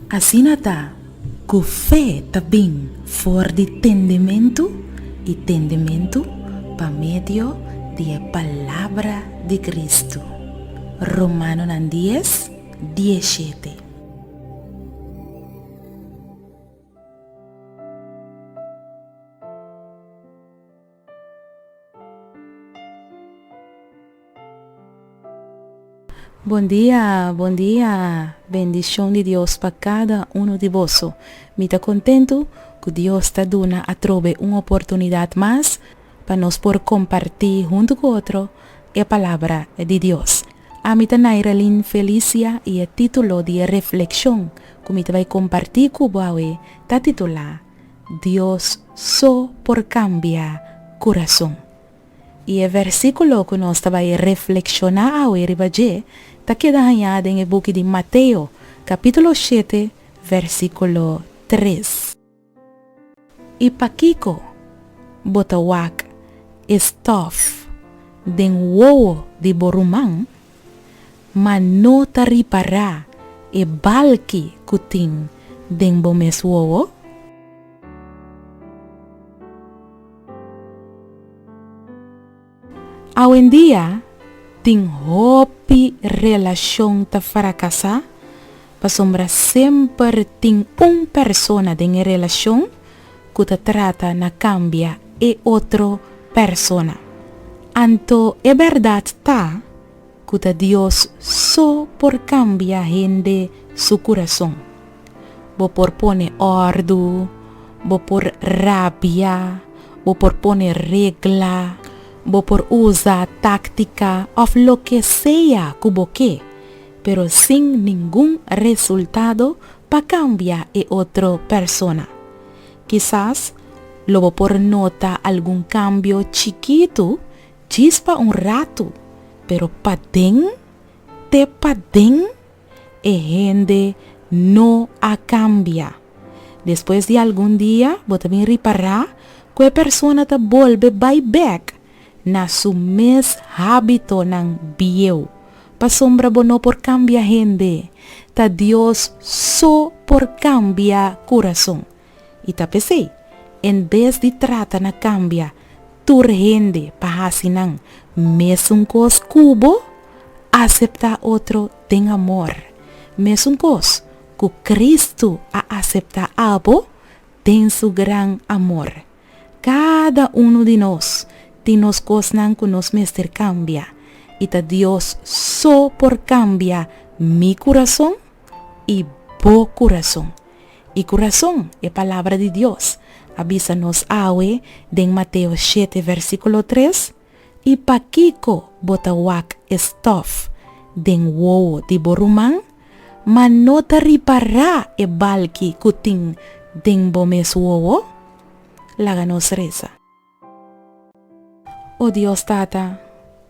Asina ta, ku fe ta bin for di tendementu, i tendementu pa medio di e palabra di Kristu. Romanonan dies, dieshete. Bon dia bon dia bendicion di Dios pa cada uno di boso mi ta contento cu Dios ta duna atrobe un oportunidad mas pa nos por kompartí huntu ku otro e Palabra di Dios. Ami ta Nairalyn Felicia i e título di e reflekshon ku mi ta bai kompartí ku bo awe ta titulá Dios so por kambia kurason. I e vèrsikulo ku nos ta bai reflekshoná awe riba dje ta keda hañá den e buki di Mateo, kapítulo shete, vèrsikulo tres. I pakiko bo ta wak e stòf den wowo di bo ruman, ma no ta ripará e balki ku tin den bo mes wowo? Awendia, tin hopi relashon ta frakasá pasobra semper tin un persona den e relashon ku ta trata na kambia e otro persona. Anto e bèrdat ta ku ta Dios so por kambia hende su kurason. Bo por pone òrdu, bo por rabia, bo por pone regla, bo por usa táktika òf loke sea ku bo ke, pero sin ningun resultado pa kambia e otro persona. Kisas lo bo por nota algun kambio chikitu, Djis pa un ratu, pero paden te paden e hende no a cambia. Despues di algun dia bo ta bin ripará cu e persona ta bolbe bai bek na su mes hábitonan bieu. Pasobra bo no por cambia hende, ta Dios so por cambia curason. I ta p'esei, en bes di trata na kambia tur hende pa hasi nan mesun kos ku bo, aseptá otro den amor, mesun kos ku Kristu a aseptá abo den su gran amor. Kada unu di nos tin nos kosnan ku nos mester kambia, i ta Dios so por kambia mi kurason i bo kurason. I ku rason e palabra di Dios a bisa nos awe den Mateo shete versíkulo tres, I pakiko bo ta wak e stòf den wowo di bo ruman, ma no ta ripará e balki ku tin den bo mes wowo? Laga nos resa. O Dios Tata,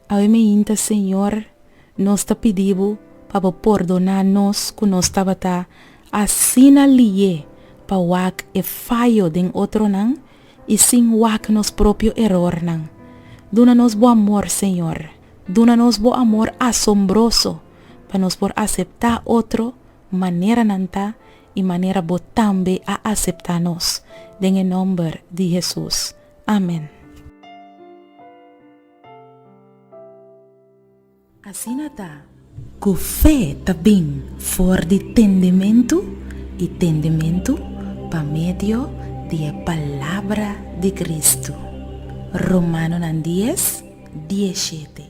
awe meinta Señor, nos ta pidi Bo pa Bo pordoná nos ku nos tabata asina liye pa wak e fayo den otronan i sin wak nos propio erornan. Duna nos Bo amor, Señor. Duna nos Bo amor asombroso pa nos por aseptá otro manera nan ta i manera bo tambe a aseptá nos, den e nòmber di Hesus. Amen. Asina ta, ku fe ta bin for di tendementu, i tendementu pa medio di e palabra di Kristu. Romanonan dies, die shete.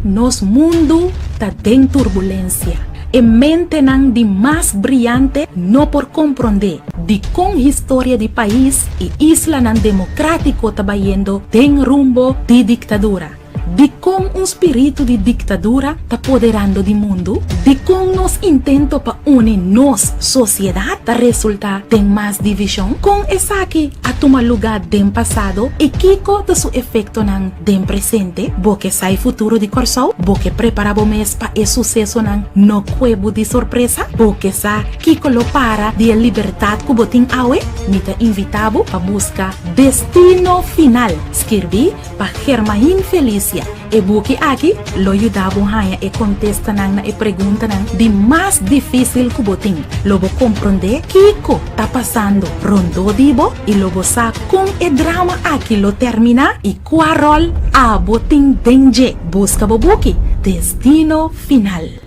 Nos mundu ta den turbulensia. E mentenan di mas briante no por komprondé dikon historia di pais i islanan demokratiko ta bayendo den rumbo di diktadura. Dikon un spiritu di diktadura ta poderando di mundu? Dikon nos intento pa uni nos sosiedat ta resultá den mas divishon? Kon esaki a tuma lugá den pasado i kiko ta su efektonan Den presente, bo ke sa e futuro di Kòrsou? Bo ke prepara bo mes pa e susesonan no kue bo di sorpresa? Bo ke sa kiko lo para di e libertat ku bo tin awe? Mi ta invitá bo pa buska Destino Final, skirbí pa Germahin Felicia. E buki aki lo yuda bo haña e kontestanan na e preguntanan di mas difísil ku bo tin. Lo bo komprondé kiko ta pasando rondó di bo i lo bo sa Con e drama aki lo termina y cua rol abo tin den dje? Busca bo buki Destino Final.